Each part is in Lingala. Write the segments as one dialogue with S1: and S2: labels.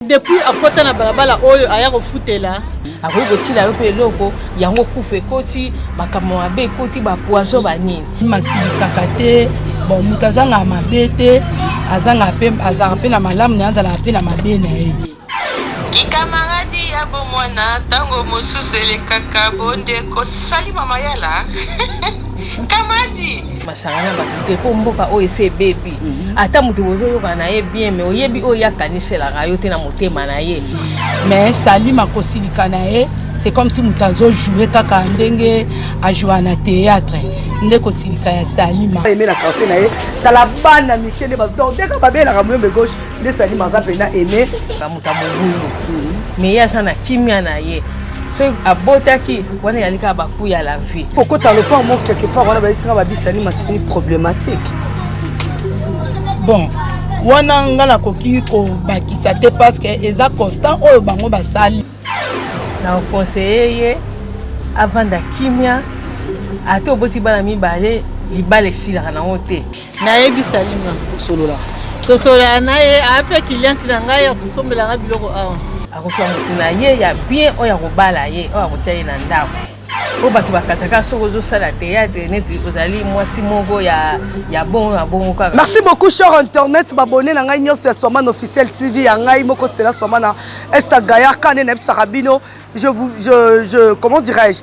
S1: depuis akota na balabala oyo aya kofutela akoki kotila yo mpe eloko yango kufa ekoti makambo mabe ekoti bapoiso banini masilikaka te
S2: bon moto azangaka mabe te azalaka mpe na malamu na ye azalaka mpe na mabe na ye kikamaradi
S3: ya bomwana ntango mosusu elekaka bondeko sali mamayala kamadi masanga na
S1: bato te mpo mboka oyo esi ebebi ata moto bozoyokana na ye bien me oyebi oyo ye akaniselaka yo te na motema na ye me salim
S2: akosilika na ye c'est comme si moto azojoue kaka ndenge ajoua na théâtre nde kosilika ya salima eme na quartier na ye
S4: tala bana mike nde bazodeka babelaka moyombe gauche nde salima aza mpena aime moto ya mobulu
S1: me ye aza na kimia na ye so abotaki wana eyali kaka baku ya la vie kokota lopango moko quelque
S4: part wana bayesika babisani masukuni problématique
S2: bon wana nga nakoki kobakisa te parce que eza constant oyo bango basali na
S1: oconseille ye avanda kimia ata oboti bana mibale libala esilaka nango te nayebi salima osolola
S4: tosolola na
S1: ye ape cliente na ngai asosombela ngai biloko awa akoki ya motu na ye ya bien oyo akobala ye oyo akotya ye na ndako oyo bato bakataka soki ozosala teyatre neti ozali mwasi moko ya, ya bongo na bongo kaka merci beaucoup cher
S4: internet babone na ngai nyonso ya swamana officiel tv ya ngai moko stela swamana esta gayar kane nayebisaka bino je, vous, je, je comment dirais-je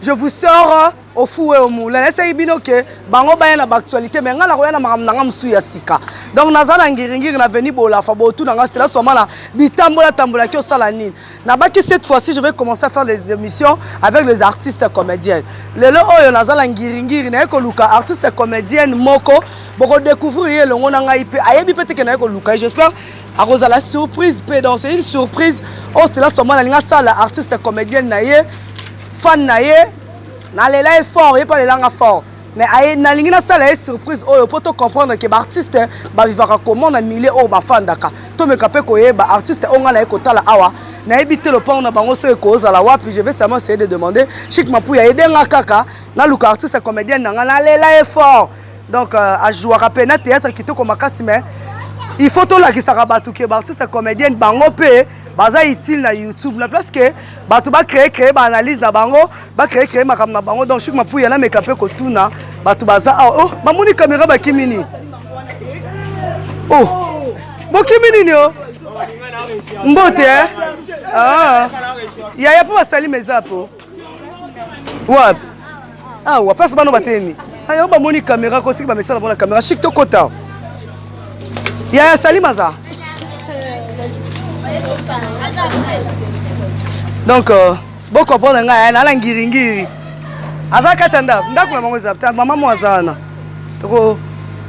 S4: je vous sors ofue omu lelesaki bino ke bango baya na baactualité me ngai nakoya na makambo na ngai mosusu ya sika donc naza na ngiringiri na veni bolafa botuna ngai stela swama na bitambola tambolaki osala nini nabaki cette fois ci je vais commencer à faire les émissions avec les artistes comédiennes lelo oyo naza na ngiringiri naye koluka artiste comédienne moko bokodécouvrir ye elongo na ngai mpe ayebi mpe teke naye koluka ye j'espère akozala surprise mpe donc c'est une surprise oyo stela swama nalingi asala artiste comédienne na ye fan na ye nalela ye fort ye mpe alela nga fort mais aye nalingi nasala ye surprise oyo mpo tocomprendre ke baartiste bavivaka comment na milieu oyo bafandaka tomeka mpe koyeba artiste oyo ngai naye kotala awa nayebi te lopango na bango soki ekozala wapi je vais seulement essayer de demander chic mapuya ede nga kaka naluka artiste comédienne na ngai nalela ye fort donc euh, ajouaka mpe na théâtre kitoko makasi mais il faut tolakisaka bato ke baartiste comédienne bango mpe baza utile na youtube na place ke bato bacree cree baanalyse na bango bacree cree makambo na bango donc chike mapuya nameka mpe kotuna bato baza awa oh, bamoni kamera bakimi nini o oh, bokimi nini o oh? mbote eh? ah. yaya mpo basali meza po wapi awa place bano batelemi ayango bamoni kamera ko soki bamesana mpona kamera chik tokota yaya salima aza donc euh, bocomprendre ngai eh, nala ngiringiri aza kati ya ndako ndako na bango eza ta mama mo aza wana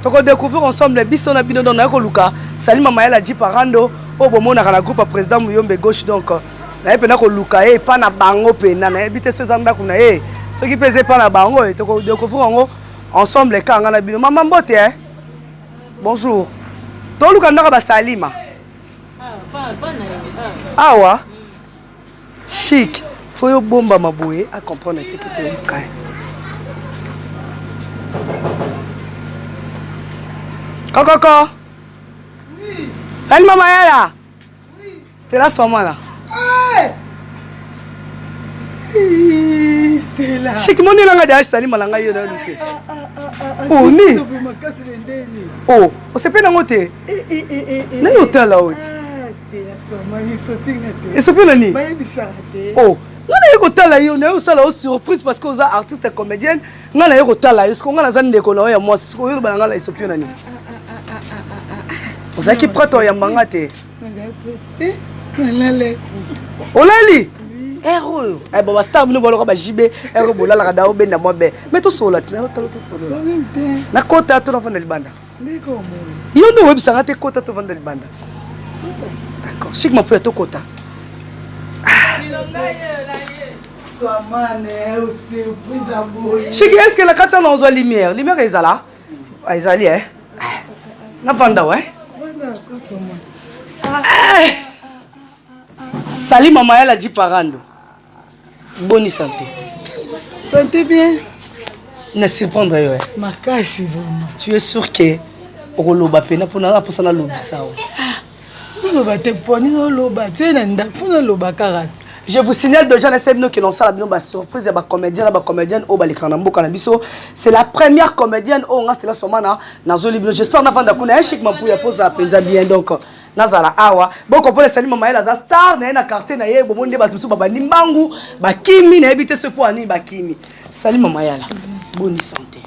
S4: tokodecouvrir ensemble biso na bino donc naye koluka salima mayala jiparando oyo bomonaka na groupe ya président muyombe gauche donc euh, naye mpena koluka ye epa na bango mpena nayebi te so eza ndako na ye soki mpe eza epa na bango eh, tokodecouvrir yango ensemble eka nga na bino mama mbote eh? bonjour toluka ndako basalima ah, awa chic fo yo bombama boye acomprendre te tete oluka ye kokoko salima mayala Stella soma là. Stella. Chiki moni langa de asali malanga yo na luke. Oh ni. Oh, osepe nango te. Eh eh eh eh. Na yo tala oti. Ah, Stella soma ni sopi ngate. Esopi na ni. Bayebisaka te. Oh. Nga na ye kotala yo na yo osala yo surprise parce que oza artiste comédienne Nga na yo kotala yo, siko nga naza ndeko na yo ya mwasi, siko yo loba na nga la esopio na nini? Ozalaki prête oyamba nga te? Nazali prête te, nalale. Olali? ere oyo eh, bon bastar bino baloka bajibe ere eh, oyo bolalaka dao benda mwa be me tosolola ti nayo talo tosolola nakota to navanda libanda yo nde oyebisanga te kota tovanda libanda d'accord sik mapuya tokota ah. Chiki, est-ce que la kati na ozwa lumière? Lumière ezala? Ah, ezali eh. Na vanda ouais. Eh. Salut maman, elle a dit parando. Bonne santé. Santé bien. Na surprendre yo. Eh. Makasi vraiment. Tu es sûr que okoloba pena pona na posa na lobisa.
S2: Ah.
S4: oloba
S2: te poni oloba te na ndako fo naloba kaka te je vous signale déjà
S4: na sala bino ke lonsala bino basurprise ya bacomédien na bacomédienne oyo balekaka na mboka na biso c'est la première comédienne oyo nga stela somana nazoli bino j'espère navanda kuna echik eh, mampuya poza mpenza bien donc nazala awa bokopola esali mama yela aza star na ye na quartier na ye bomoni nde bato mosusu babandi mbangu bakimi nayebi te se mpo anini bakimi Salut maman Yala, boni santé.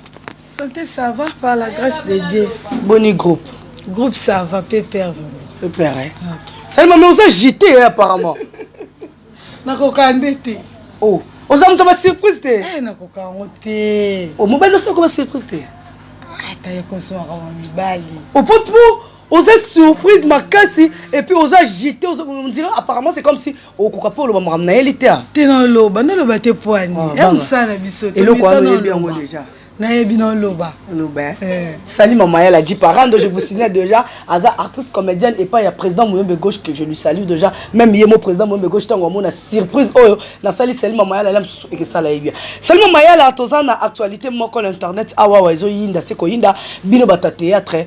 S4: Santé ça
S2: va par la grâce de Dieu. Boni groupe.
S4: Groupe ça va
S2: pépère vraiment. Pépère. Hein? Ah,
S4: okay. Salut maman oza agité hein, apparemment. Nakoka nde
S2: te. Oh, oza
S4: moto ba surprise te. Eh nakoka yango te.
S2: Oh mobali osi okoba
S4: surprise te. Ata ah, ye
S2: komsomaka mibali. Opo oh, po
S4: oza surprise makasi epuis oza agite ondire apparemment c'est comme si okoka mpe oloba makambo na ye li te te naloba
S2: naloba te poani ah, ya mosala na biso eloko wana oyebi yango
S4: deja nayebi na oloba
S2: oloba eh?
S4: eh. sali mama ya la dit parando je vous signale déjà aza artiste comédienne epai ya président moyombe gauche que je lui salue déjà même ye mo président moyombe gauche ntango amona surprise oyo nasali sali mama ya la la mosusu ekesala ye bien sali mama ya la toza na actualité moko na internet awawa ah, ezoyinda se koyinda bino bato ya théâtre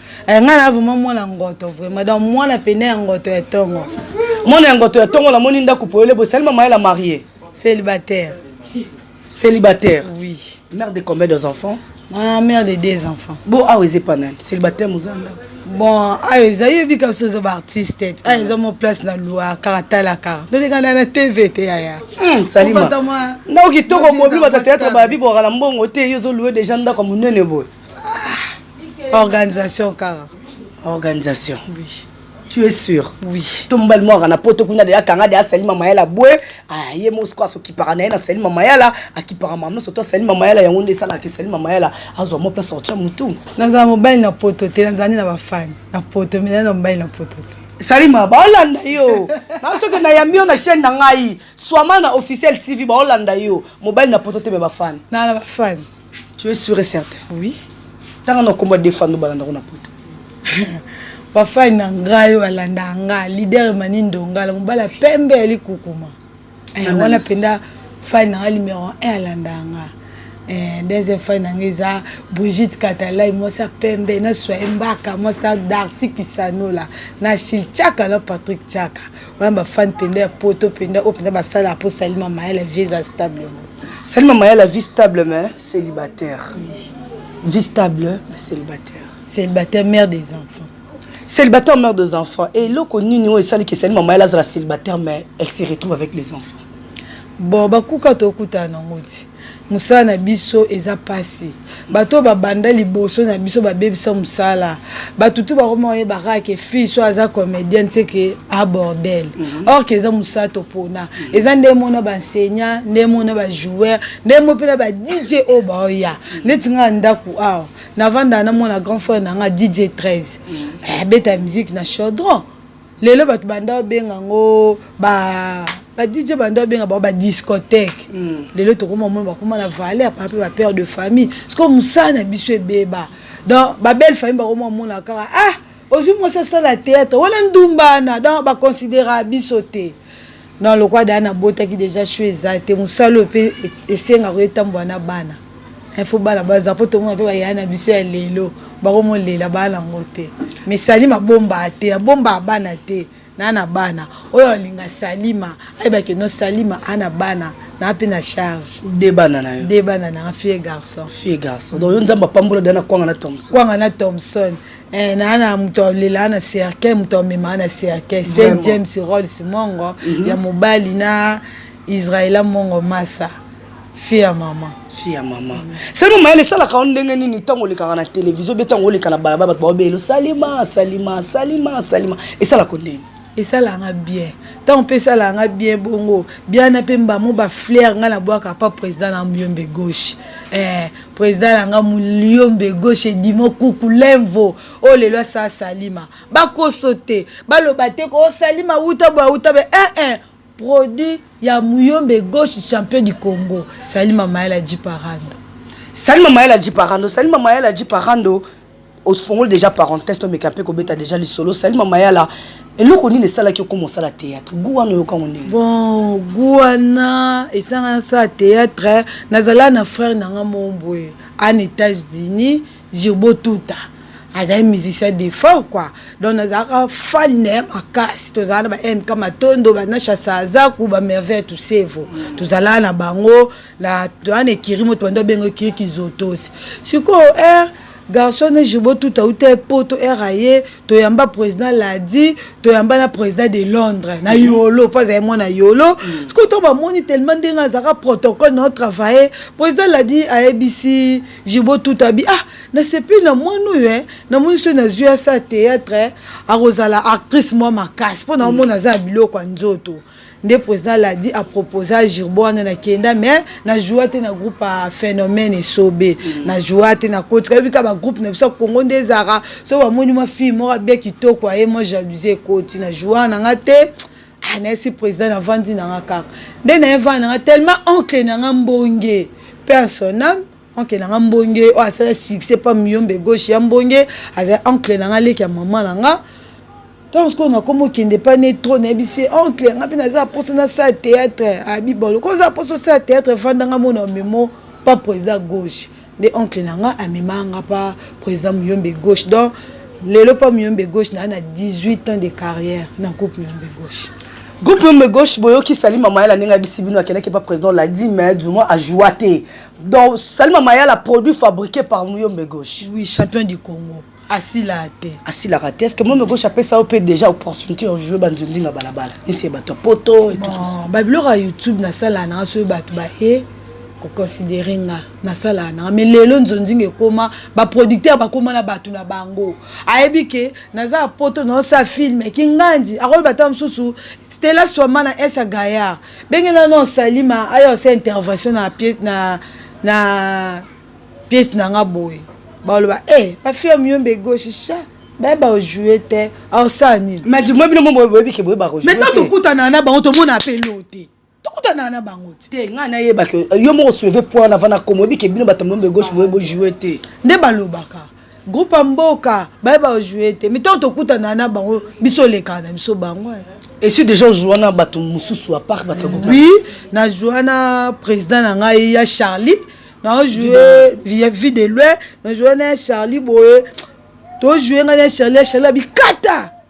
S2: Eh, ngai na vraiment mwana ngoto vraiment donc mwana pene ya ngoto ya tongo mwana ya ngoto
S4: ya tongo namoni ndako poyele bosali mama yela marie célibataire célibataire oui
S2: mère de combien des
S4: enfants ah, mère de
S2: deux enfants bo awa eza epa nani
S4: célibataire moza ndako bon ayo ah,
S2: eza yebi kaka so oza baartiste ayo ah, eza mo place na lwa kaka tala kaka totekana na tv te yaya hmm, salima
S4: ndako kitoko bobi batateatre bayabi bokaka na mbongo te yo ozolue deja ndako monene boye ah, organisation
S2: kaka organisation
S4: oui.
S2: tu es sûr
S4: oui to mobali
S2: mwaka na poto
S4: kuna deya kanga deya asali mama yala bwe ah, ye mosiko asokipaka na ye nasali mama yala akipaka mama nyonso to asali mama yala yango nde esalaka esali mama yala azwa mo place ortia motu nazala mobali na
S2: poto te nazali na bafani na poto mena na mobali na poto te salima baolanda
S4: yo na soki nayambi yo na chaîne na ngai swama na officiel tv baolanda yo mobali na poto te me bafani na na bafani
S2: Tu es sûr et
S4: certain? Oui.
S2: Tanga na kombo
S4: defando balanda kuna poto.
S2: Bafai na ngai balanda nga leader mani ndongala mobala pembe ya likukuma. Eh, wana penda fai na nga numéro 1 alanda nga. Eh, deuxième fai na nga eza Brigitte Katalai mwasi ya pembe na Soye Mbaka mwasi ya Darcy Kisanola na Shil Chaka na Patrick Chaka. Wana ba fan penda ya poto penda oyo penda basala po salima mayele vieux stable. Bon. Salut maman ya la
S4: vie stable mais célibataire. Vie stable mais célibataire. Célibataire mère
S2: des enfants. Célibataire mère
S4: des enfants. Et loko nini oyo esali que salut maman ya la célibataire mais elle se retrouve avec les enfants. Bon
S2: bakuka tokutana nango ti. Musala na biso eza pasi. bato oyo babanda liboso na biso babebisa mosala bato tu bakoma oyeba kaka ke fille so aza comédienne se ke abordel mhm. or ke eza mosala topona mhm. eza nde mona baenseignant nde mona bajoueur nde mo mpena ba dj oyo baoya mhm. ndeti ngaa ndako awa navandaka na mwana grand frère na nga dj 13 abeta eh, musique na chaudron lelo bato banda babenga yango ba badj banda babenga bango badiscothèque hmm. lelo tokoma omona bakoma na valeur papa mpe bapère de famille sikoyo mosala na biso ebeba donc babelle famille bakoma omona kaka ah ozwi mwasi asala théâtre wana ndumbana donc baconsidera biso te non lokola daa nabotaki deja sho eza te mosala oyo mpe esengaka etambola na bana info bana baza mpo tomona mpe bayaya na biso ya lelo bakomolela bana yango te mais salima bombaa te abombaa bana te naa na bana oyo alinga salima ayebake no salima a na bana naa mpe na charge de bana na yo de
S4: bana na fie garçon
S2: fie garçon donc yo nzambe
S4: apambola dana kwanga na thomson kwanga na thomson Eh, na na moto alelaa na cercueil moto amemaa na cercueil saint james rolls mongo mm -hmm. ya mobali na israela mongo masa fille ya mama fille ya mama mm. seno mayele esalaka yo ndenge nini ntango olekaka na televizio be ntango oleka na balaba bato baobele salima salima salima salima esalaka ndenge esalanga
S2: bien ntango mpe esalanga bien bongo biana mpe mbamo baflere ngai nabwaka pa président na myombe gauche eh, President na nga Muliombe gauche Edimo Kuku Lenvo oyo oh, lelo asala Salima bakoso te baloba te ko oh, Salima wuta boya wuta be eh eh produit ya Muyombe gauche champion du Congo Salima Mayela Jiparando Salima Mayela
S4: Jiparando Salima Mayela Jiparando ofongoli déjà parenthèse tomeka mpe kobeta déjà lisolo sali mama yala eloko nini esalaki okoma osala théâtre gu wana oyokango ndenge bon gu
S2: wana esanga nasala théâtre nazala na frère na nga mombwe an états-unis jirbo tuta azali musicien de fort quoi donc nazalaka fan na ye makasi tozalaka na ba mk matondo banasha sazaku bamerveille tusevo tozalaka na bango la wana ekiri moto bando abenga ekiri kizotosi sikoyo eh, garçon ne jobo tout auta epoto r aye toyamba président ladi toyamba na président de londres na mhm. yolo mpo azali mwana yolo mhm. sikoyo ntango bamoni tellement ndenge azalaka protocole na otravaille président ladi ayebisi jibo tout abi ah nasepeli na mwana oyo e namoni soki nazwi asa théâtre akozala actrice mwa makasi mpo naomona aza ya biloko ya nzoto nde président ladi a proposa girbo wana na kenda mais na joua te na groupe ya phénomène esobe mm. na joua te na koti kayebi ka ba groupe na biso ya congo nde ezalaka so bamoni mwa fille moko abia kitoko aye mwa jalousie ekoti na joua na nga te ah, nayesi président navandi na nga kaka nde naye vandi na nga tellement oncle na nga mbonge mpe asoname oncle na nga mbonge oyo asala succès pa miyombe gauche ya mbonge azali oncle na nga leki ya mama na nga ntango sikoyo nakomi okende pa ne tro nayebisi ye oncle nga mpe naza mposa nasala théâtre abibolo ko oza mposa osala théâtre efanda nga mona omemo pa président gauche nde oncle na nga amemaka nga pa président muyombe gauche donc lelo pa muyombe gauche naa na 18 ans de carrière na groupe muyombe gauche groupe meme
S4: gauche boyoki sali mama yala ndenge abisi bino akendaki pa président ladi mais duma ajoua te donc salima mayala produit fabriqué par muyombe gauche oui champion du congo
S2: asilaka te asilaka te estce mome
S4: gauche apesa yo mpe déjà opportunité ya joue banzonzinga balabala neti bato ya poto babiloko ya youtube
S2: nasalaka nanga soki bato baye koconsidere nga nasalaka nanga mai lelo nzonzinga ekoma baproducteur bakoma na bato na bango ayebi ke naza ya poto naosala filme kingandi akoyeba ta mosusu stela swama na esa gayar bengela no salima aya osala intervention na pièce na na pièce na nga boye baloba e eh, bafia muyombe gauche cha bayeba ojoue te aosala nini majimo bino mo boyebi
S4: ke boyeba kojoue maintenant tokutana na bango
S2: tomona mpe lo te tokutana na bango te ngai nayebaka
S4: yo moko souleve point na vana komo oyebi ke bino bato muyombe gauche boye bojoue te nde balobaka
S2: groupe ya mboka baye bajoue te mitango tokutana na bango biso olekana na biso bango eh. esi déjà ozwa
S4: na bato mosusu apart bato oui nazwa
S2: na président na ngai ya charlie naojoue vie de loin najoue na ya charlie boye tojoue ngai na ya charlie ya charlie abikata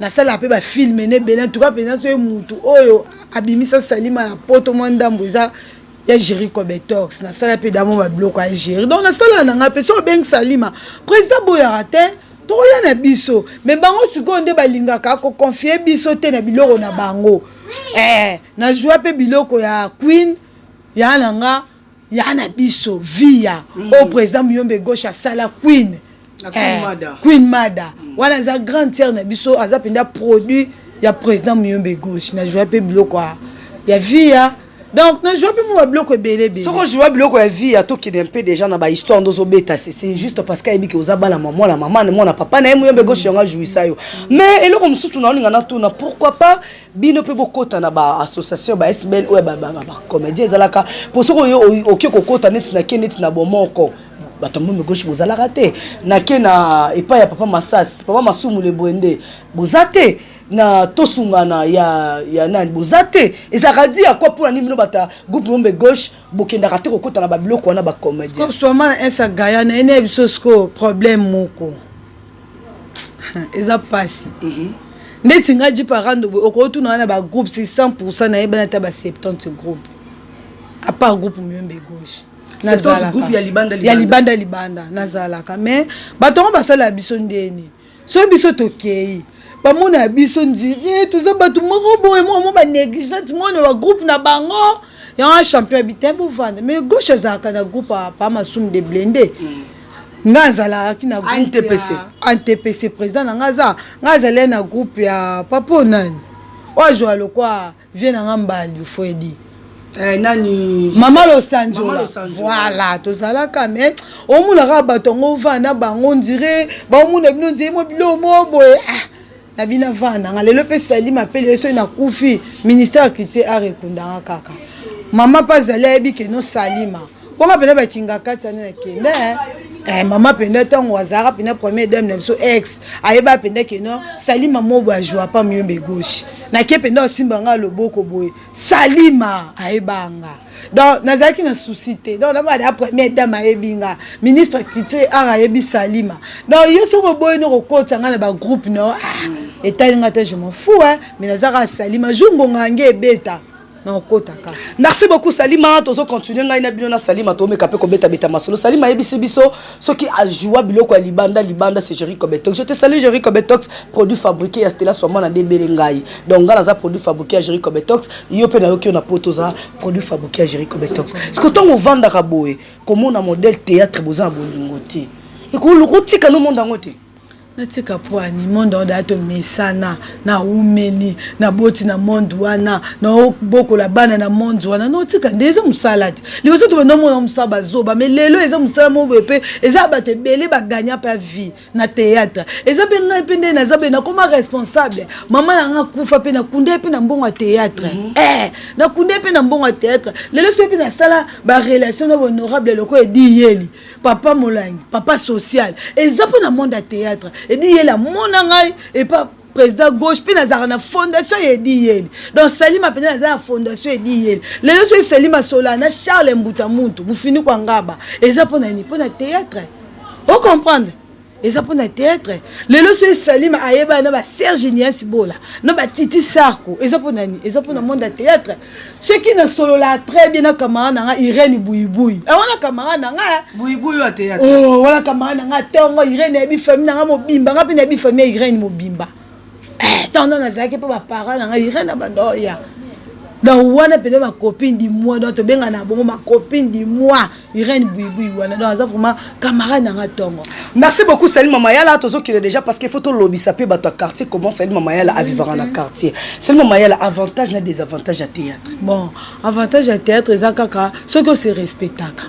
S2: nasalaka mpe bafilme na ebele antuka mpenza soki motu oyo abimisa salima na poto mwa ndambo eza ya géri cobetox nasala mpe damo babiloko ya géri donc nasalaka na ngai mpe so obengi salima président boyaka te tokoya na biso me bango sikoyo nde balingaka koconfie biso te na biloko na bango eh, nazwa mpe biloko ya queen ya na nga ya na biso via mm. oyo président muyombe gauche asala queen eh, queen mada, queen mada. Mm. wana aza grande sœur na biso aza mpenza produit ya président muyombe gauche na joua mpe biloko ya via donc na joua mpe mua biloko ebele ebele soko joua biloko ya
S4: via tokende mpe déjà na bahisttoire nde ozobeta sese juste parce que ayebi ke oza bana mwa mwana mama mwana papa na ye muyombe gauche yango ajouisa yo mais eloko mosusu naolinga natuna pourquoi pas bino mpe bokota na baassociation ba sbl oyo bacomédien ezalaka mpo soki oyo oke kokota neti na ke neti na bomoko bato ya momi gauche bozalaka te nake na epai ya papa masasi papa masumu lebwende boza te na tosungana ya, ya nani boza te ezalaka di ya kwa mpona nini bino bata groupe mombe gauche bokendaka te kokota na babiloko wana bacomédien soma na insa
S2: gaya na ene ya biso sikoyo problème moko eza pasi mm -hmm. ndeti nga ji parando boye okotuna wana ba groupe si 100 pourcent nayebana ata ba 70 groupe apart groupe muyombe gauche nazalaka ya libanda libanda, ya
S4: libanda, libanda.
S2: nazalaka mais bato yango basalaka biso ndeni soki biso tokei bamona ya biso ndire toza bato moko boye moko mo banégligente mona bagroupe na bango yango champion ya bitene bovanda mais gauche azalaka na groupe apa masumu de blende mm. nga azalaki na antepese président na nga aza nga azalaki na groupe ya papo nani oyo azwa lokwa vie na nga mbali fredi Eh, nani
S4: mama losanjola
S2: voilà tozalaka mais omonaka bato yango ovanda bango ndire baomona bino ndire mo bilo mo boye ah. na bino avandanga lelo mpe sali mapele ye soki nakufi ministère ya culture art ekundanga kaka mama mpe azali ayebi keno salima bonga mpena bakinga kati ani na kende eh. eh, mama mpenza ntango azalaka mpenza première dame na biso ex ayeba mpenza keno salima mobo ajua pa miyombe gauche nake mpenza osimba ngai loboko boye salima ayebanga donc nazalaki na souci te donc namona première dame ayebi nga ministre culture art ayebi salima donc yo soki oboyi no kokotisa nga na bagroupe no ah, etali nga te je m'en fou hein mais naza kaka salima jour ngonga yange ebeta nakokotaka
S4: merci beaucoup salima tozo continue ngai na bino na salima tomeka mpe kobetabeta masolo salima ayebisi biso soki ajoua biloko ya libanda libanda c'est Jerry Cobetox je te salue Jerry Cobetox produit fabriqué ya Stella Swama na debele ngai donc ngai naza produit fabriqué ya Jerry Cobetox yo mpe nayoki yo na poto oza produit fabriqué ya Jerry Cobetox siko ntango ovandaka boye komona modèle théâtre boza na bolingo te ekoluka otika no monde yango te natika
S2: pwani monde yango daya tomesana na umeli na boti na monde wana naobokola bana na monde wana naotika nde eza mosala te liboso to banda omona mosala bazoba mai lelo eza mosala moko boye mpe eza bato ebele bagagna mpe vie na théâtre eza mpe ngai mpe nde naza boye nakoma responsable mama na ngai akufa mpe nakunda ye mpe na mbongo ya théâtre mm -hmm. eh, nakunda ye mpe na mbongo ya théâtre lelo soki mpe nasala barelation na bahonorable lokola ediyeli papa molangi papa social eza mpo na monde ya théâtre edi yela mona ngai epa président gauche mpe nazalaka na fondation ya edi yeli donc salima mpenza naza na fondation edi yeli lelo soki salima sola na charles mbuta muntu bufiniko angaba eza mpo na nini mpo na théâtre ocomprendre eza mpo na teatre lelo so esalima ayebana na baserge nias bola na batiti sarko eza mpo na nini eza mpo na monde ya teatre soki nasololaa très bien na kamara na nga irene buibui eh, wana kamara na nga eh.
S4: oh, wana kamara na
S2: nga ntongo irene ayebi famille na nga mobimba nga mpe nayebi famille ya irene mobimba eh, ntango nano nazalaki mpo baparent na ngai irene abanda oya donc wana mpenza bacopine du mois donc tobenga na bongo bacopine du mois irene buibui wana donc aza vraiment camarade na nga ntongo merci beaucoup sali
S4: mama yala tozokende déjà parce que faut tolobisa mpe bato ya quartier comment sali mama yala avivaka na quartier sali mama yala avantage na désavantage ya théâtre bon avantage
S2: ya théâtre eza kaka soki ose respectaka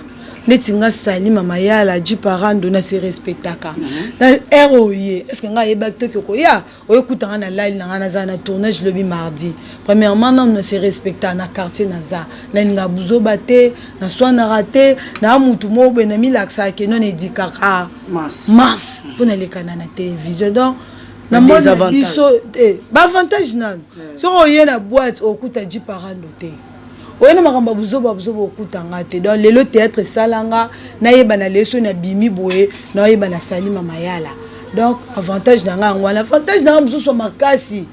S2: neti nga sali mama yala ji parando na se respectaka mhm. na heure oye est ce que nga ayebaki toki okoya oye kuta nga na lali na nga naza na tournage lobi mardi premièrement nanu na se respecta na quartier naza nalinga buzoba te na swanaka te na mutu moko boye namilakisaka ke non edikaka mas mpo nalekana na télévision donc na moni biso te baavantage nanu soki oye na boite okuta ji parando te oye na makambo ya buzoba buzoba okuta nga te donc lelo théâtre esala nga nayebana lelo soki nabimi boye naoyeba nasali mama yala donc avantage na nga yango wana avantage na nga mosusu ya makasi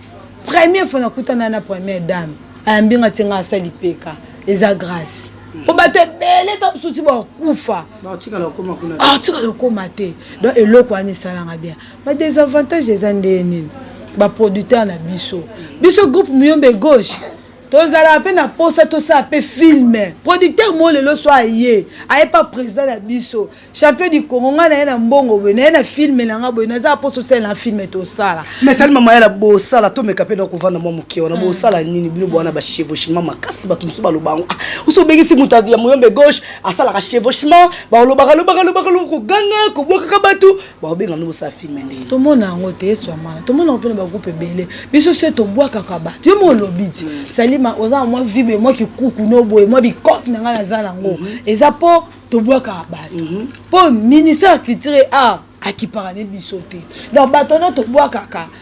S2: première fois nakutana na première dame ayambi nga tie nga asali peka eza grâce mpo bato ebele ta mosusu ti bakufa
S4: atikala okoma te
S2: donc eloko wana esalanga bien badesavantage eza ndenge nini baproducteur na biso biso groupe miyombe gauche tozalaka mpe na mposa tosala mpe filme producteur moo lelo so aye aye mpa président na biso champion du congo ngai naye na mbongo boye naye na filme na ngai boye nazala mposa osalela na filme tosala mais sali mama yala
S4: bosala tomeka mpe na kovanda mwa moke wana bosala nini bino bowana bachevauchement makasi bato mosusu baloba yango ah, osi obengisi moto ya moyombe gauche asalaka chevauchement balobaka lobaka lobaka lobaka koganga kobwakaka bato bakobenga nde bosala filme ndenge tomona yango te
S2: eswamana tomona yango mpe na bagroupe ebele biso se tobwakaka bato yo molobi ti mm. salima oza na mwa vibe mwa kikuku no boye mwa bikote na ngai naza nango mm-hmm. eza mpo tobwakaka bato mm-hmm. mpo ministère ya culture e art akipaka ne biso te donc bato no tobwakaka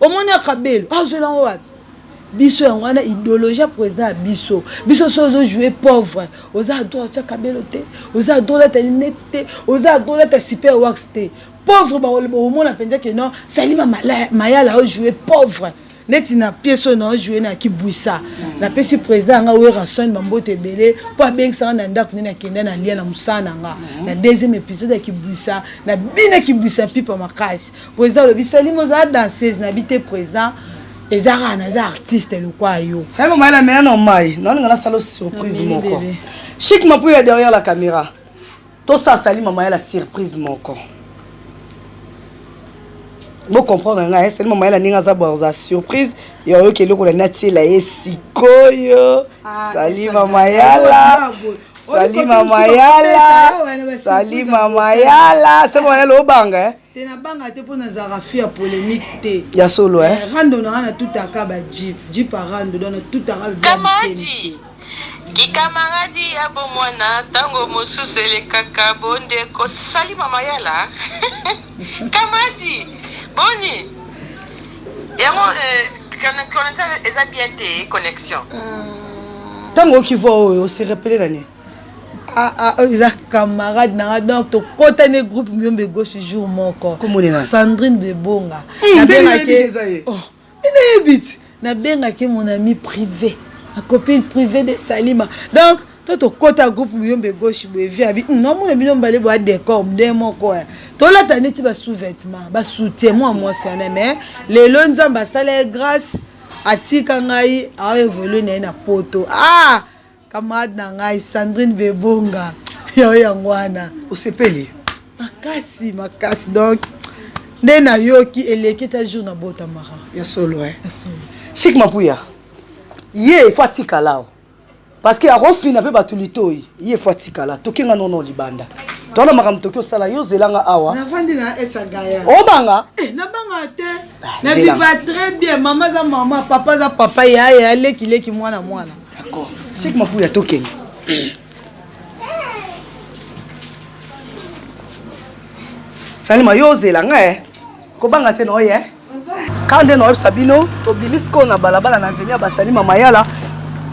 S2: omoni ya kabelo azwela yango wapi biso yango wana idéologie ya président ya biso biso so ozojoue pauvre oza adroit otya kabelo te oza adroit olata linete te oza adroit olata super wax te pauvre bakoloba omona mpenza ke non salima mayala ojoue pauvre neti na piese oyo naojoue na kibwisa napesi président yanga werrason bamboto ebele mpo abengisanga na ndako nde nakenda na lia na mosala na nga na deuxième épisode ya kibwisa na bina kibwisa pipa makasi President alobi Salima oza danseuse na bite president eza kaka naza artiste lokwa yo. Salima maye na mela na
S4: mai naolinga nasala surprise moko. Chic Mapuya derrière la caméra. Tosa Salima maye la surprise moko. Bo comprendre ngai hein, Salima maye la ninga za bwa za surprise ya oyo keloko na natiela ye sikoyo. Ah, Salima mayala. Salima mayala. Salima mayala. Salima mayala obanga hein. te na banga te mpo
S2: nazalaka fi ya polemique te ya solo eh? eh rando
S4: nanga na
S2: tutaka ba jeep jeep a rando donc na tutaka kamadi
S3: kikamaradi ya bomwana ntango mosusu elekaka bondeko sali mama yala kamadi boni yango eh, connexion eza bien te connexion
S4: ntango okivua oyo oserepele na nini Ah, ah,
S2: oyo eza camarade na nga donc tokotani groupe miyombe gauche jour moko sandrine bebonga hmm, nabengaki oh, nayebi ti nabengaki mon ami privé ma copine privée de salima donc to tokota groupe miyombe gauche boye vi abi hmm, namona bino mbale boya décor nde moko eh. tolata neti basous-vêtement basoutien mwa mwasi wana mais lelo nzambe asala ye grâce atika ngai aoevolue na ye na poto ah Camarade na ngai Sandrine Bebonga yo yango wana osepeli
S4: makasi
S2: makasi donc nde nayoki eleki ta jour na bota mara ya solo eh. ya
S4: solo chic mapuya ye ifo atikala o parce que akofina mpe bato litoi ye ifo atikala tokenga nono libanda tona makambo toki osala yo ozelanga awa navandi na esagaya
S2: obanga eh,
S4: nabanga te
S2: ah, na viva très bien mama aza mama papa aza papa yaya alekileki mwana mwana D'accord.
S4: C'est que ma pouya token. Salima yo ozela nga eh. Kobanga te noye eh. Quand nde noyebisa bino tobimisi ko na balabala na avenue ya Basalima Mayala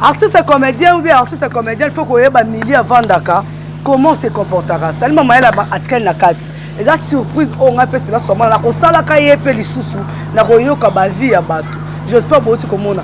S4: artiste comédien ou bien artiste comédien il faut koyeba milieu avandaka comment se comportaka Salima Mayala atikali na kati eza surprise oyo ngai mpe sila somana nakosalaka ye mpe lisusu nakoyoka bavi ya bato j'espère bouti komona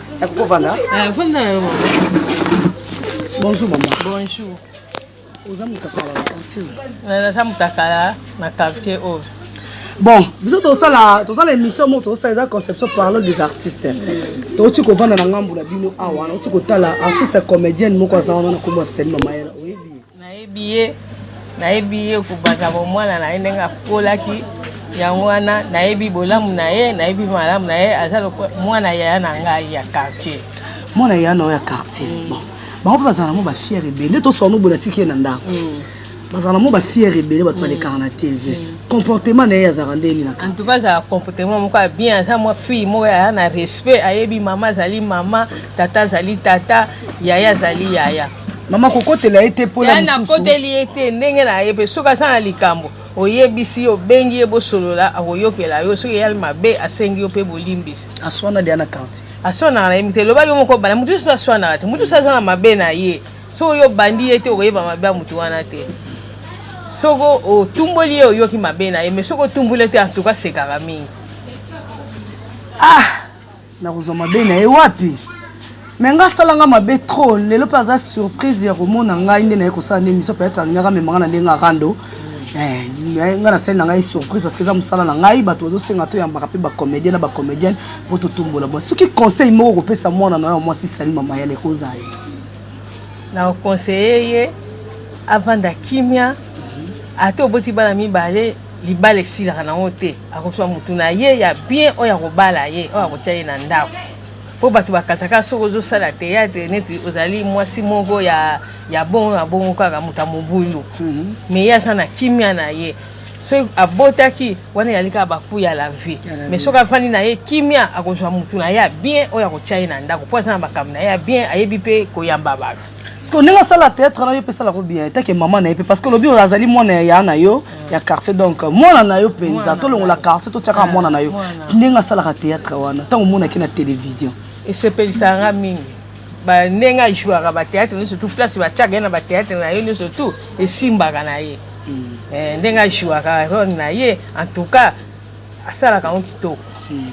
S1: Nakoki
S4: kovanda? Eh, vanda na yo
S1: mama.
S4: Bonjour mama. Bonjour.
S1: Oza
S4: mutakala na quartier? Naza mutakala
S1: na quartier oyo. Oh. bon
S4: biso tosala tosala émission moko tosala eza conception parlant des artistes touti kovanda na ngambo na bino awa nauti kotala artiste comédienne moko aza wana na kombo ya seli mamayela oyebi Nayebi ye,
S1: nayebi ye kobanda bomwana na ye ndenge akolaki yango wana nayebi bolamu na ye nayebi malamu na ye aza lokola mwana yaya na ngai ya quartier mwana yaya na yo
S4: ya quartier mm. bon bango mpe bazala nango bafiere ebele nde toswana obola tiki ye na ndako mm. bazala nango bafiere ebele bato balekaka mm. na tv comportement na ye azalaka nde nini en tout cas azala comportement
S1: moko ya bien aza mwa fille moko yaya na respect ayebi mama azali mama tata azali tata yaya azali yaya mama kokotela
S4: ye te mpoya nakoteli ye te
S1: ndenge na ye mpe soki aza na likambo oyebisi ye obengi ye bosolola akoyokela yo soki eyali mabe asengi yo mpe bolimbisi aswana dia na
S4: quartier aswanaka na ye te
S1: elobaki yo moko bana motu nyonso aswanaka te motu nyonso aza na mabe na ye soki oyo obandi ye te okoyeba mabe ya motu wana te soki otumboli ye oyoki mabe na ye mais soki otumboli ye te antuka sekaka mingi ah
S4: nakozwa mabe na ye wapi me nga asala nga mabe trop lelo mpe aza surprise ya komona ngai nde naye kosala nde miso peut-être alingaka amemanga na ndenge arando eh, nga nasali na ngai surprise parce que eza mosala na ngai bato bazosenga toyambaka mpe bacomédien na bacomédienne mpo totombola bwa soki conseil moko okopesa mwana na yo mwasi sali mama yale ekozala
S1: na oconseille ye avanda kimia ata oboti bana mibale libala esilaka nango te akozwa motu na ye ya bien oyo akobala ye oyo akotya ye na ndako mpo bato bakataka soki ozosala teyatre neti ozali mwasi moko ya ya bongo na bongo kaka moto ya mobulu mhm. me ye aza na kimia na ye soki abotaki wana eyali kaka baku ya la vie mais soki afandi na ye kimia akozwa motu na ye ya bien oyo akotya ye na ndako mpo aza na makambo na ye ya bien ayebi mpe koyamba bato siko ndenge asala
S4: théâtre na yo mpe esalako bien etake mama na ye mpe parce que lobi azali mwana ya yaa na yo ya quartier donc mwana na yo mpenza tolongola quartier totyaka ah, mwana na yo ndenge asalaka théâtre wana ntango omonaki na télévision esepelisaka
S1: nga mingi ndenge ajouaka bathéâtre nyonso tout place batyaka ye na bathéâtre na ye nyonso tout esimbaka na ye hmm. eh, ndenge ajouaka role na ye en tout cas asalaka yango kitoko hmm.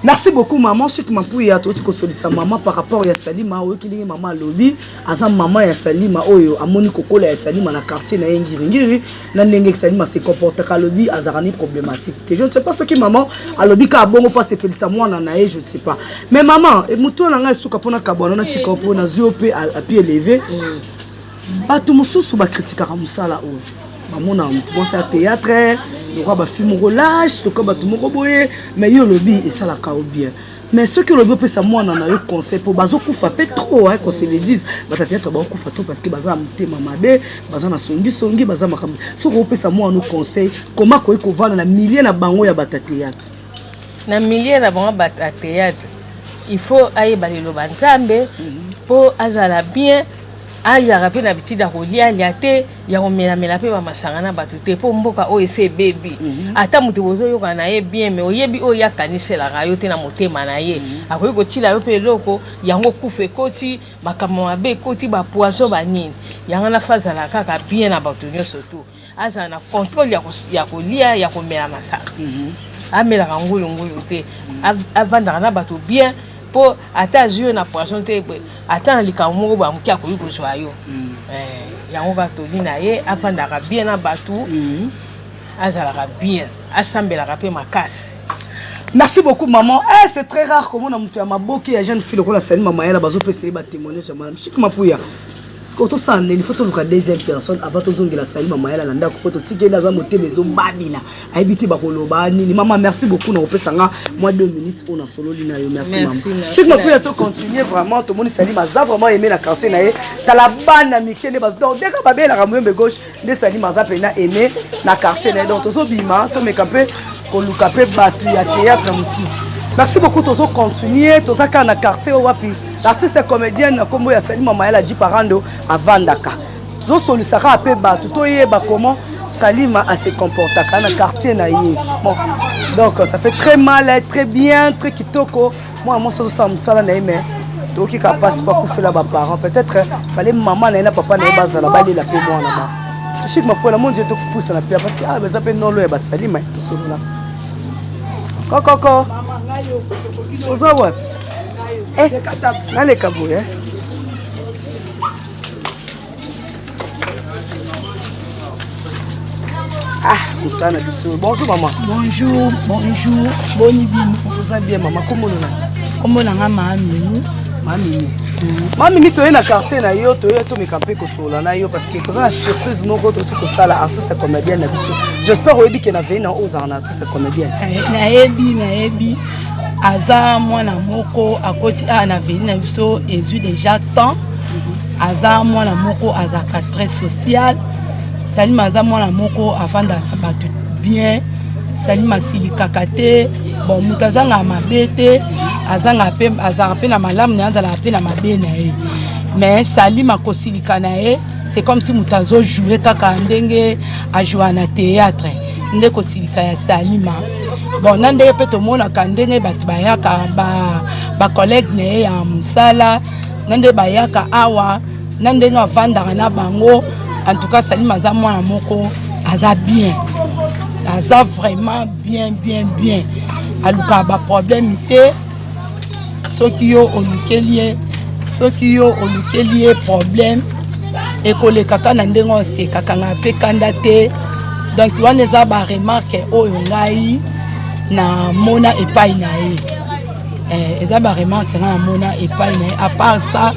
S4: merci beaucoup maman chik mampuya touti kosolisa mama par rapport ya salima oyoki ndenge mama alobi aza mama ya salima oyo amoni kokola ya salima na quartier na ye ngiringiri na ndenge salima se comportaka alobi azalaka ni problématique te je ne sais pas soki maman alobi kaka bongo mpo asepelisa mwana na ye je ne sais pas mais maman moto na ngai esuka mpo na kabwana na tika mpo nazwi yo mpe api eleve mm. bato mosusu bakritikaka mosala oyo bamonaka moto mwasi ya théâtre lokola bafilme moko lâche lokola bato moko boye mais yo olobi esalaka yo bien mais soki olobi opesa mwana na yo conseil mpo bazokufa mpe trop hein, qu'on se le dise batateatre baokufa trop parce que baza na motema mabe baza na songisongi baza makambo soki opesa mwana no conseil koma akoki kovanda na milieu na bango ya batateatre na
S1: milieu na bango bato ya théâtre il faut ayeba liloba nzambe mpo mhm. azala bien ayaka mpe na bitida kolia alia te ya komelamela mpe bamasanga na bato te mpo mboka oyo esi ebebi mhm. ata moto bozoyoka na ye bien me oyebi oyo ye akaniselaka yo te na motema na ye mhm. akoki kotila yo mpe eloko yango kufa ekoti makambo mabe ekoti bapoison banini yango nafa azala kaka bien na bato nyonso tu azala na contrôle ya, ko, ya kolia ya komela masanga mm -hmm. amelaka ngulungulu te mm -hmm. avandaka na bato bien mpo ata azwi yo na poison te boye ata na likambo moko boye moke akoki kozwa yo mm. eh, yango kaka toli na ye afandaka bien na bato mm. azalaka bien asambelaka mpe makasi merci
S4: beaucoup maman eh, c'est très rare komona moto ya maboke ya jeune fille lokola sani mamayala bazopesa ye batémoignage ya mwana mshik mapuya sikoyo tosala nini fo toluka deuxième personne avant tozongela sali mama yala na ndako mpo totikeli aza motema ezobabila ayebi te bakoloba nini mama merci beaucoup na kopesa nga mwa deux minutes oyo nasololi na yo merci mama chik makuya to continue vraiment tomoni salima aza vraiment aime na quartier na ye tala bana mike nde donc deka babelaka moyembe gauche nde salima aza mpe na aime na quartier na ye donc tozobima tomeka mpe koluka mpe bato ya théâtre mosusu merci beaucoup tozocontinue toza kaka na quartier oyo wapi l'artiste comédienne na nkombo ya salima mayala ji parando avandaka tozosolisa kaka mpe bato toyeba comment salima ase comportaka na quartier na ye bon donc ça fait très mal très bien très kitoko mwana mwasi azosala mosala na ye me toyoki ka mpasi mpo akufela baparent peut-être fale mama na ye na papa na ye bazala balela mpe mwana ba toshiki mapola monje tokopusana mpe parce que awa ah, baza mpe nolo ya basalima tosolola kokoko oza wapi eh, naleka boye eh? Ah, mosala na biso bonjour mama bonjour
S2: bonjour boni bino oza bien
S4: mama komonona kombo na nga maamini
S2: mamimi
S4: mamimi toye na quartier na yo toye tomeka mpe kosolola na yo parce que toza na surprise moko toti kosala artiste comédienne na biso j'espère oyebi ke na vei na ozala na artiste comédienne eh, nayebi nayebi
S2: aza mwana moko akoti awa na vei na biso ezwi déjà temps aza mwana moko azalaka très social salima aza mwana moko afandaka na bato bien salima asilikaka te bon moto azangaka mabe te azangaka mpe azalaka mpe na malamu na ye azalaka mpe na mabe na ye mais salima kosilika na ye c'est comme si moto azojoue kaka ndenge ajoua na théâtre nde kosilika ya salima bon na ndenge mpe tomonaka ndenge bato bayaka bacollègue ba na ye ya mosala na nde bayaka awa na ndenge avandaka na bango en tout cas salima aza mwana moko aza bien aza vraiment bien bien bien alukaka baproblème te soki yo olukeli ye soki yo olukeli ye problème
S4: ekolekaka na ndenge osekaka ngai mpe kanda te donc wana eza baremarke oyo ngai namona epai na ye Eh, eza ba remarque nga namona epai na ye à part ça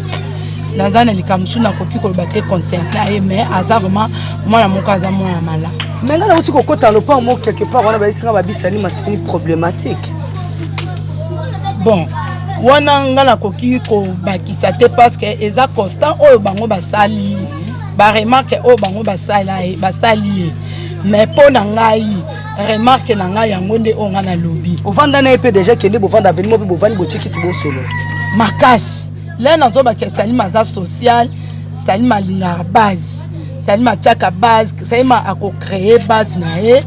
S4: naza na likambo mosusu nakoki koloba te concernant ye mais aza vraiment mwana moko aza mwana ya malamu me nga nauti kokota
S3: na lopango moko quelque part wana bayesinga babisani masoni problématique
S4: bon wana nga nakoki kobakisa te parce que eza constant oyo bango basali baremarke oyo bango basali ye mais mpo na ngai remarque na ngai yango nde oyo ngai nalobi ovanda na ye mpe deja
S3: kende bovanda avenimo mpe bovandi botikiti bosolo makasi
S4: le nazobaka salima aza social salima alingaka base salima atiaka base salima akocreye base na ye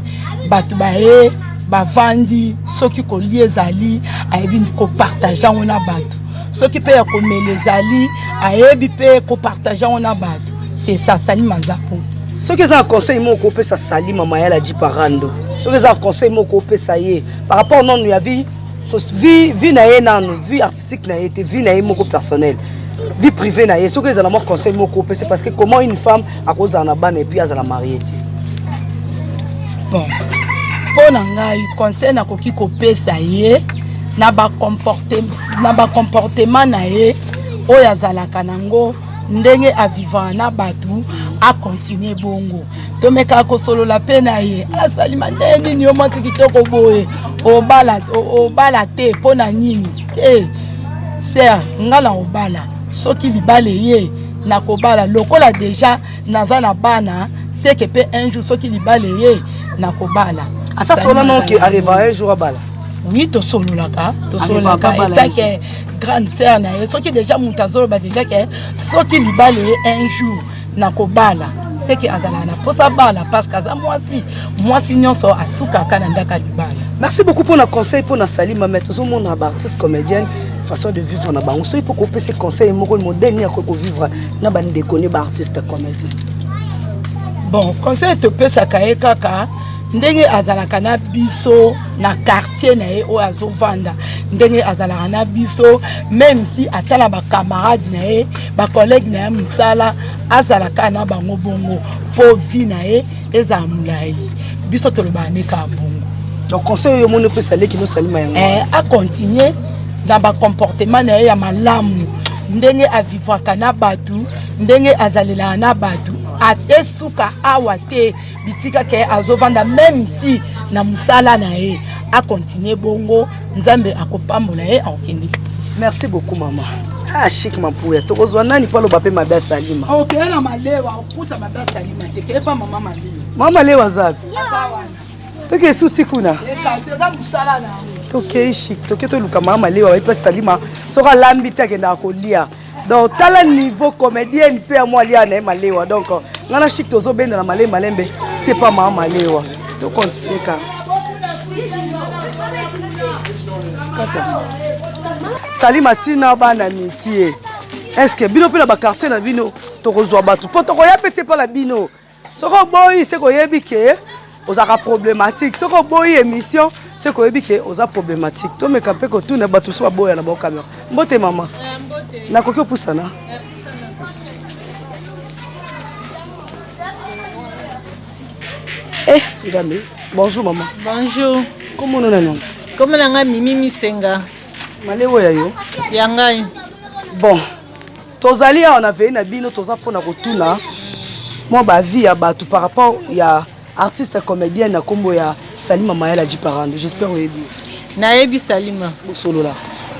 S4: bato baye bavandi soki kolia ezali ayebi kopartage yango na bato soki mpe ya komela ezali ayebi mpe kopartage yango na bato sesa salima aza po soki eza na conseil
S3: moko kopesa sali mama ya laji parando soki eza na conseil moko kopesa ye par rapport nanu ya vie vie vie na ye nanu vie artistique na ye te vie na ye moko personnel vie privée na ye soki ezala mwa conseil moko kopesa parce que comment une femme akozala na bana epuis azala marie te
S4: bon mpo na ngai conseil nakoki kopesa ye na bacomportement na ye oyo azalaka nango ndenge avivaka na bato akontinue bongo tomekaka kosolola mpe na ye azali mandeye nini yo mwasi kitoko boye obala, obala te mpo na nini te ser nga na obala soki libala eye nakobala lokola deja naza na bana seke mpe un jour soki libala eye nakobala asa solo
S3: noke areva un jour abala oui tosololaka
S4: tosololaka etake grande sœur na ye soki deja moto azoloba deja ke soki libala ye un jour nakobala seke azalaka na mposa abala parce que aza mwasi mwasi nyonso asukaka na ndaka libala merci beaucoup mpo na
S3: conseil mpo na salima mai tozomona baartiste comédienne façon de vivre na bango soki mpo kopesa conseil moko modèle nini akoki kovivre na bandeko ne baartiste comédien
S4: bon conseil topesaka ye kaka ndenge azalaka na biso na quartier na ye oyo azovanda ndenge azalaka na biso meme si ata na bacamarade na ye bacollege na ye mosala azalaka na bango bongo mpo vi na ye ezala molai biso tolobaka nde kaka bongo donc conseil oyo
S3: omoni opesa leki nosalima yango eh, acontinue
S4: na bacomportement na ye ya malamu ndenge avivaka na bato ndenge azalelaka na bato ate suka awa te bisika ke azovanda meme ici na mosala na ye akontinue bongo nzambe akopambola ye akokende merci beaucoup
S3: mama ah chic mapuya tokozwa nani mpo aloba mpe mabe asalima okeye oh, na malewa
S4: okuta mabe asalima te keye mpa mama malewa mama malewa azapi
S3: toke esuti kuna
S4: tokei chic
S3: toke toluka mama malewa bayebi mpe asalima soki alambi te akendaka kolia donc tala niveau comédienne mpe ya mwa lia na ye malewa donc ngai na chik tozobenda na male malembe tie pa maa malewa tocontinue kaka sali matina bana mikie estce bino mpe na bakartier na bino tokozwa bato mpo tokoya mpe tie mpa na bino soki oboyi se koyebi ke ozalaka problématique soki oboyi émission se koyebi ke oza problématique tomeka mpe kotuna bato mosusu baboya na bango kamera mbote mama nakoki opusana eh nzambe bonjour mama bonjour
S1: komono na niongo
S3: komo na ngai mimi
S1: misenga malewo ya
S3: yo ya ngai
S1: bon
S3: Tozali awa na veille na bino toza pona kotuna mwa ba vie ya batu par rapport ya artiste comedienne na kombo ya Salima Mayala Jiparando. J'espère oyebi. Nayebi
S1: Salima. Bosolola.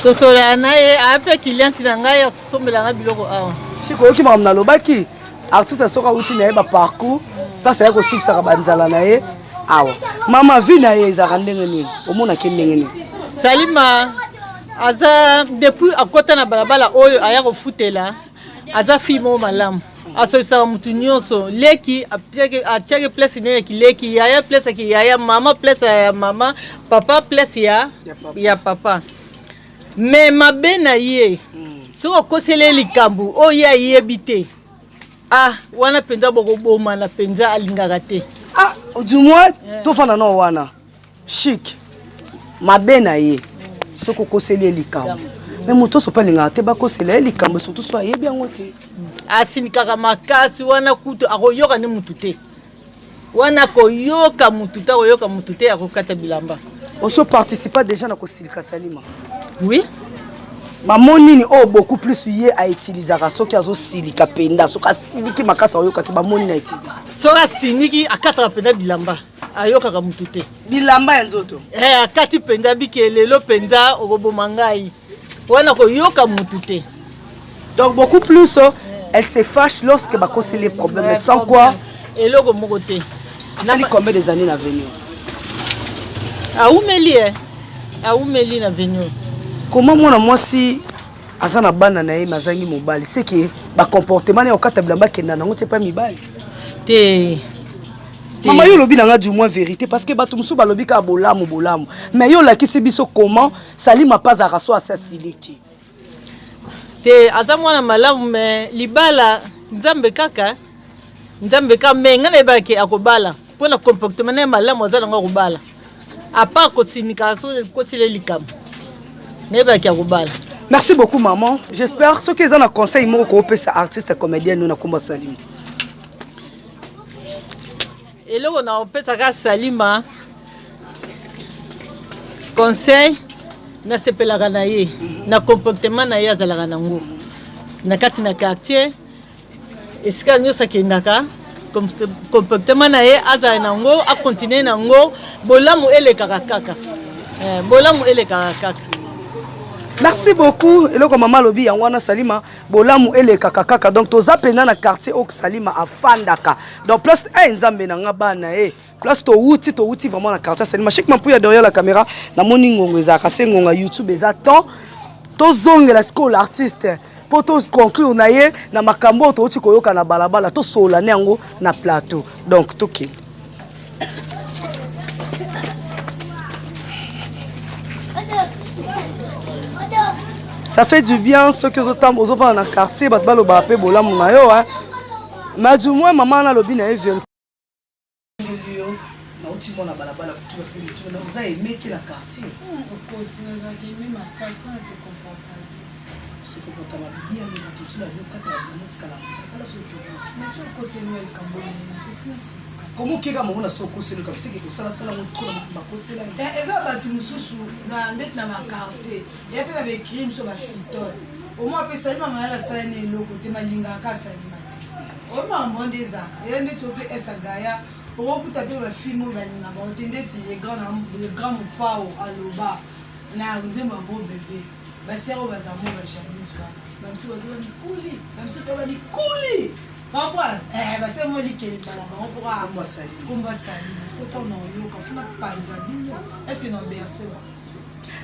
S3: Tosolola na
S1: ye ape client na ngai asombela ngai biloko awa. Siko oyoki makambo
S3: nalobaki artiste soki awuti na ye ba parcours place aye kosikisaka banzala na ye awa mama vie na ye ezalaka ndenge nini omonaki ndenge nini salima
S1: aza depuis akota na balabala oyo aya kofutela aza fille moko malamu asokisaka motu nyonso leki atiaki place ne ya kileki yaya place ya kiyaya mama place ya mama papa place ya, ya papa me mabe na ye hmm. soki okoseli ye likambo oyo ye ayebi te ah wana mpenza bokobomana mpenza alingaka te ah du moins
S3: eh. tofanda nao wana chic mabe na ye soki okoseli ye likambo me moto oso mpe alingaka te bakosela ye likambo surtout so ayebi yango te asilikaka
S1: makasi wana kutu akoyoka nde motu te wana akoyoka motu te akoyoka motu te akokata bilamba oso participa
S4: déjà na kosilika salima oui
S1: mamo
S4: nini oyo oh, beaucoup plus ye autilisaka soki azosilika mpenza soki asiliki makasi aoyoka te bamoni na etili soki asiliki
S1: akataka mpenza bilamba ayokaka mutu te bilamba ya nzoto
S4: eh, akati mpenza
S1: bike lelo mpenza okoboma ngai wana koyoka mutu te donc beaucoup
S4: plus oh, elle se fâche lorsque bakosi les problèmes ouais, sans quoi eloko moko te
S1: asali combien
S4: des années na venir awumeli e
S1: eh. awumeli na venir comment mwana
S4: mwasi aza na bana na ye mazangi mobali seke bacomportement na ya kokata bilamba akenda nango te mpa mibali te mama yo olobi na nga du moins vérité parce que bato mosusu balobi kaka bolamu bolamu mais yo olakisi biso comment salima mpe azalaka so asasile te
S1: te aza mwana malamu mais libala nzambe kaka nzambe kaka me ngai nayebaki akobala mpo na comportement naye malamu aza nango akobala apart kotinika so kotile likambo nayebaki akobala merci beaucoup
S4: maman j'espère soki eza na conseil moko koopesa artiste comédien no na kombo salima
S1: eloko na opesaka salima conseil nasepelaka na ye na comportement na ye azalaka nango na kati na quartier esika nyonso akendaka comportement na ye azala na yango akontinue na yango bolamu elekaka kaka eh, bolamu elekaka kaka
S4: merci beaucoup eloko mama alobi yango wana salima bolamu elekaka kaka donc toza mpenza na quartier oyo salima afandaka donc place e hey, nzambe na nga bana e eh. hey. place towuti towuti vraiment na quartier salima chek mampuya derrière la caméra namoni ngongo ezalaka se ngongo ya youtube eza temps tozongela sikoyo l'artiste mpo toconclure na ye na makambo oyo touti koyoka na balabala tosolola ne yango na plateau donc tokende ça fait du bien soki ozotamba ozofanda na quartier bato balobaka mpe bolamu na yo hein mais du moins mama nalobi na ye vérité nauti mwana balabala kotuna mpe mituna na oza aime te na quartier se
S2: comporta mabe bien mais bato mosusu babi okata bango tikala motakala soki komo okeka mongo
S4: na so okoseli kama seke kosalasala ngo tro na bakosela eh, eza bato mosusu
S2: na ndeti na baquartier ya mpe na baecrime so bafritole omo apesali mamayala asala na eloko te malingaka asali oyo makambo nde eza eza nde to mpe esa gaya okokuta mpe bafilme oyo balinga bango te ndeti le grand mopao aloba na nzembo yango bebe basere oyo baza mo bajamise wana bamisu baza bamikuli bamisu mpe bamikuli comprendre eh, basere mo likele bala bango mpokombo asali sikoto na oyoka funa panza bino estce na berse ba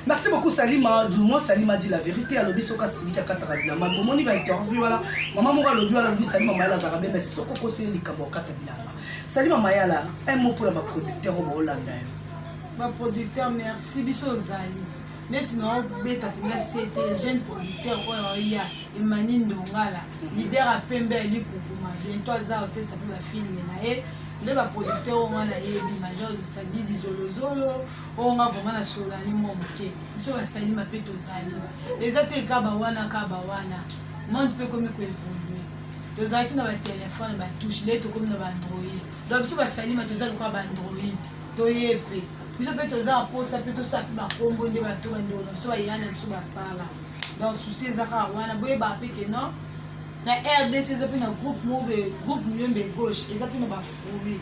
S2: merci
S4: beaucoup salima du moins salima dit la vérité alobi soki asiliki akataka bilamba bomoni ba interview wana mama moko alobi wana alobi salima mayala azalaka be mais soki okosi ye likambo akata bilamba salima mayala un mot mpo na baproducteur oyo baolanda yo
S2: baproducteur merci biso ozali neti naobeta mpenza sete jeune producteur oyo oya emani ndongala lider ya pembe ya likukuma biento aza osesa mpe bafilme na ye nde baproducteur oyo wana ayebi major sadidi zolozolo oyo nga vraiment na sololani mwa moke biso basali mape tozali eza te kaba wana kaba wana monde mpe ekomi koevolue tozalaki na batelefone batouche nde tokomi na baandroid donc biso basalima toza lokola baandroid toye mpe biso mpe toza baposa mpe tosala mpe bakombo nde bato bandeko na biso bayana biso basala donc souci eza kaka wana boyebaka mpe ke non na rdc eza mpe na groupe mobe groupe muyombe gauche eza mpe na bafruit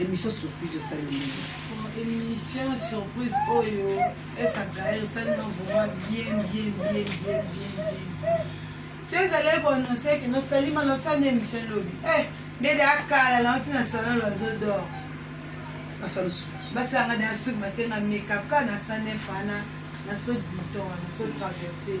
S4: Emission surprise osali ndenge. Emission
S2: surprise oyo esakaire esali na vraiment bien bien bien bien bien bien. So ezali koannonce ke nosali ma nosali emission lobi. Eh, ndede akala na oti na salon l'oiseau d'or.
S4: Asala suki. Basanga da suki
S2: batenga makeup kana sana fana na so bouton na so traverser.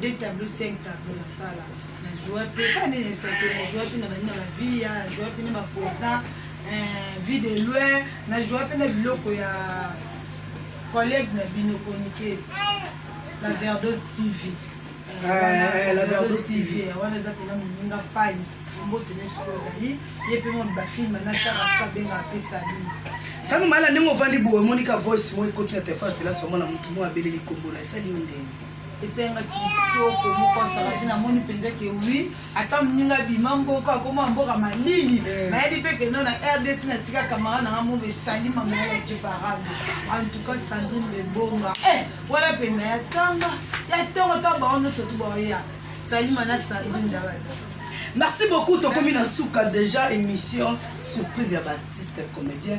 S2: de tableau 5 tableau na sala na joie pe ka nini yebisa te na joie pe na bani na ba vie ya na joie pe na ba président eh, vie de loin na joie pe na biloko ya collègue na bino chroniqueuse la verdose tv eh,
S3: la verdose tv eh, wana eza pena moninga
S2: pani mbote nyonso oyo ozali ye mpe moni bafilme nasaka mpe abenga mpe salini sango mala ndenge
S3: ovandi boye omoni ka voice moko ekoti na telefone telasi omona motu moko abeleli kombola esali yo ndenge esenga
S2: kitoko moko asalaki namoni mpenza ke wi ata moninga bima mboka akoma mboka malili eh. nayebi mpe keno na rdc natika kamara nanga mobo esali mamaya ya jebarado antuka sandrine bebonga e eh, wala mpenda ya tanga ya ntongo ta bango nyonso tu baoya salima na sandrine dabaza merci beaucoup
S3: tokomi na suka déjà émission surprise ya baartiste comédien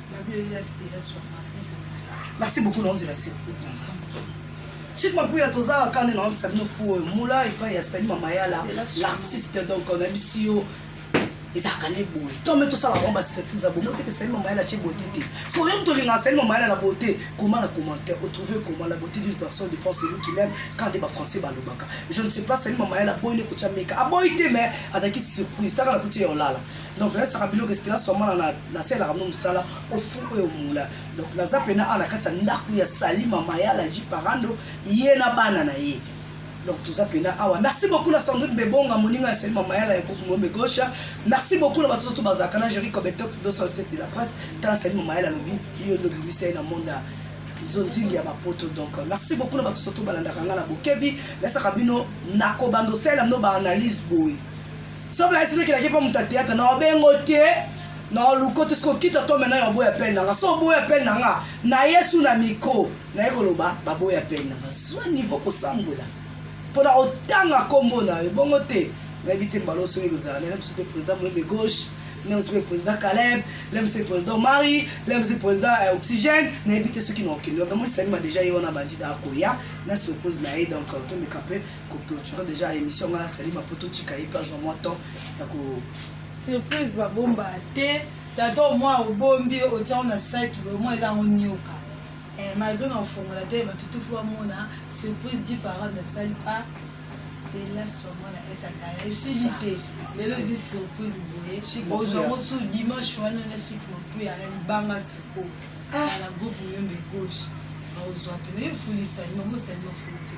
S2: Merci beaucoup, non, c'est la surprise.
S3: Chic Mapuya, toza la canne, non, ça nous fout. Moula, il va y a Sani Mamayala, l'artiste, donc, on a mis si ezalaka ne boye to me tosala bango basurprise ya bomo te ke sali mama ya na tie bote te parce que oyo moto olingaka sali mama ya na bote comment na commentaire otrouve comment la beauté d'une personne dépend celui qui l'aime quand nde bafrançais balobaka je ne sais pas sali mama ya na boyi ne kotya meka aboyi te mais azalaki surprise taka na kuti ya olala donc nayesaka biloko estela swamana nasalelaka mno mosala ofu oyo mola donc naza mpena awa na kati ya ndako ya sali mama ya laji parando ye na bana na ye donc toza mpena awa merci beaucoup na sandrine bebonga moninga ya sali mama ya la ya groupe mombe gauche merci beaucoup na bato soso bazalaka na jeri cobetox 207 de la presse tala sali mama ya la lobi yo nde obimisa ye na monde ya nzonzingi ya bapoto donc merci beaucoup na bato soso balandaka ngai na bokebi nasaka bino nakobanda osalela bino baanalyse boye soki bayesi nokelaki mpo moto ya théâtre na obengo te na oluko te soki okita to mena ya oboya pene na nga so oboya pene na nga na yesu na micro naye koloba baboya pene na nga zwa niveau kosambwela mpo na otanga nkombo na yo bongo te nayebi te mbala osoki kozala na biso mpe président moyembe gauche leo mpe président caleb leo mpe président mari leo mpe président ya euh, oxygène nayebi te soki na okende wapi amonisaki ma deja ye wana bandida akoya na surprise na ye donc tomeka mpe ko clôturer déjà émission ngana sali ma poto tika ye pas moi temps ya ko surprise
S2: ba bomba te tata au moins obombi otiango na sac au moins eza ngo nyoka eh, malgré na ofongola te ba tutufu ba mona surprise dit par an na sali pas stella sur moi na esaka ya sili te lelo zi surprise boye ozwa ngo su dimanche wana na chic mopui ya libanga siko ah. na groupe muyombe gauche ozwa pene yo fulisani mabosani mafulu te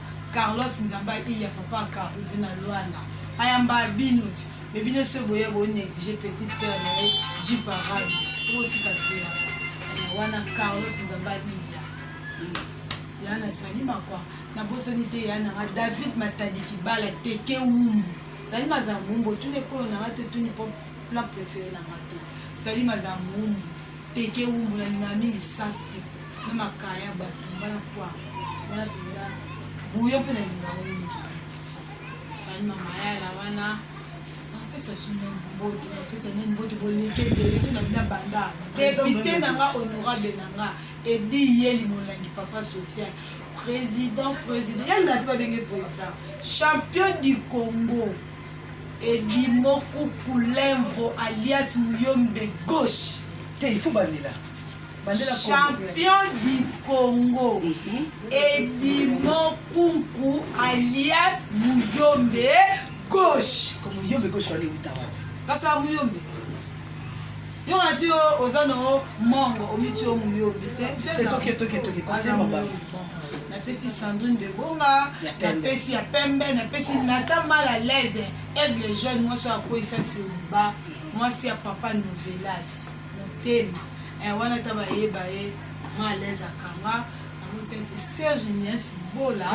S2: Carlos nzambe aiya papa carlove na luanda ayamba bino ti me bino soki boya bonéglige petite sœur na ye ji parade okotika vela wana carlos nzambe aiya ya nasali makwa nabosani te ya nanga david matadi kibala teke wumbu sali maza mwumbu otuni ekolo nanga te otuni po plat préféré nanga te sali maza mwumbu teke wumbu nalingaka mingi safi na makaya ya bato mbala kwa wana mpenza buyo mpe na lingango mingi ezali na mayala wana napesa suna mbote napesa nani mbote boleke ebele so na bina banda depute na nga honorable na nga edi yeli molangi papa social président président yalingati babenge président champion du congo edimokukulenvo alias muyombe gauche te il faut balela champion du congo mhm. edimo kunku alias muyombe gauche ko muyombe gauche
S3: wale uta wapi kasi ya muyombe
S2: yo wana ti oza no mongo omiti yo muyombe te
S3: napesi
S2: sandrine de bonga napesi ya pembe napesi nata mal à l'aise aigle jeune mwasi oyo akweyisa seliba mwasi ya papa novelas motema eh, wana ta bayeba ye ma alaise akanga yango sente serge nias bola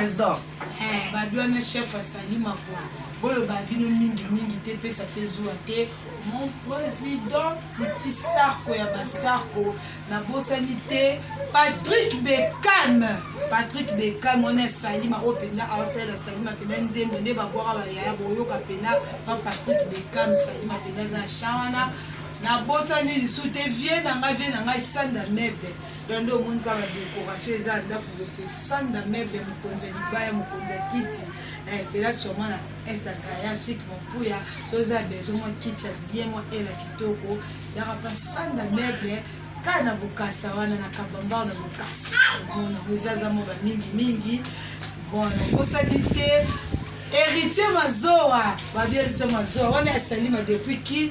S2: eh,
S3: babi wana
S2: chef asali makwa boloba bino mingi mingi te pesa mpe zuwa te mon président titi sarko ya basarko nabosani te patrick beckham patrick beckham wana esalima oyo mpenza aosalela salima mpenza nzembo nde babwaka bayaya boyoka mpenza pa patrick beckham salima mpenza aza na chan wana Na bosani lisu te vie na nga vie na nga esanda meuble donc nde omoni kaka ba decoration eza ndaku bose sanda meuble mokonzi ya libaya mokonzi ya kiti estela eh, sûrement na esakaya chic mopuya so eza besoin mwa kiti ya bien mwa ela kitoko yaka pa sanda meuble kaka na bokasa wana na kabambao na bokasa omona ngo eza aza moba mingi mingi bon nakosaki te héritier mazoa babi héritier mazoa wana ya salima depuis kin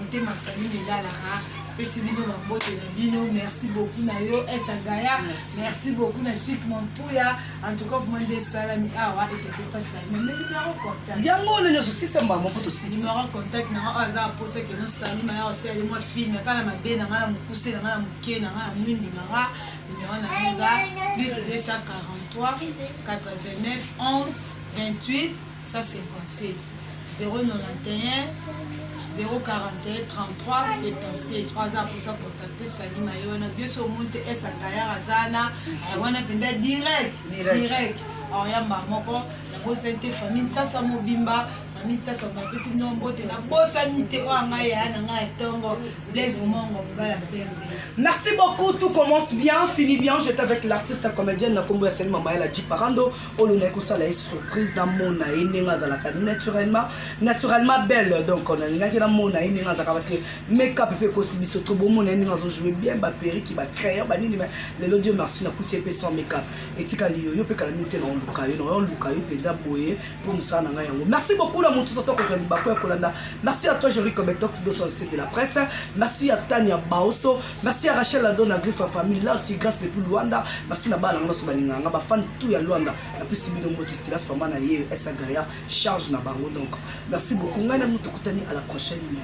S2: motema sami milalaka pesi bino bambote na bino merci beaucoup na yo esagaya merci beaucoup na chic mampuya en tout cas vraiment nde esalami awa etepe pasalima me numero contact yango wana nyonso sisa
S3: mbambo mpo tosisi numero contact nanga oyo
S2: aza aposa keno salima ya osali mwa filme aka na mabe nanga na mokuse nanga na moke nanga na mwindu nanga numero na eza plus 243 89 11 28 157 091 041 33 77 oyo aza akosa kontakte sali maye wana biso omoni te esa tayar aza wana wana mpenza direct direct aoyamba moko nabosani te famille nsasa mobimba famille nsasa bapesi bino mbote nabosani te oyo anga yaya na ngai ya ntongo blaise mongo mobala mpembe merci beaucoup
S3: tout commence bien fini bien j'étais avec l'artiste comédienne na nkombo ya sali mamaela jiparando oyo naye kosala ye surprise namona ye ndenge azalaka naturellement naturellement belle donc nalingaki namona ye ndenge azalaka parce que makeup mpe ekosi biso to bomona ye ndenge azojoue bien baperiki bacrayon banini ma lelo dieu merci nakuti ye mpe sans makeup etikali yo yo mpe kala minute naoluka yo naoluka yo mpenza boye mpo mosala na ngai yango merci beaucoup na motu soto kozwa libaku ya kolanda merci à toi jerico betox 207 de la presse merci à tania baoso Merci à Rachel Adon na Griffa Famille, Larti Grace depuis Luanda. Merci na bana nyonso balinga nga, ba fan tout ya Luanda. Na pesi bino mbote Stella Swamba na ye, Esa Gaya, charge na bango donc. Merci beaucoup. Ngai na mutu kutani à la prochaine.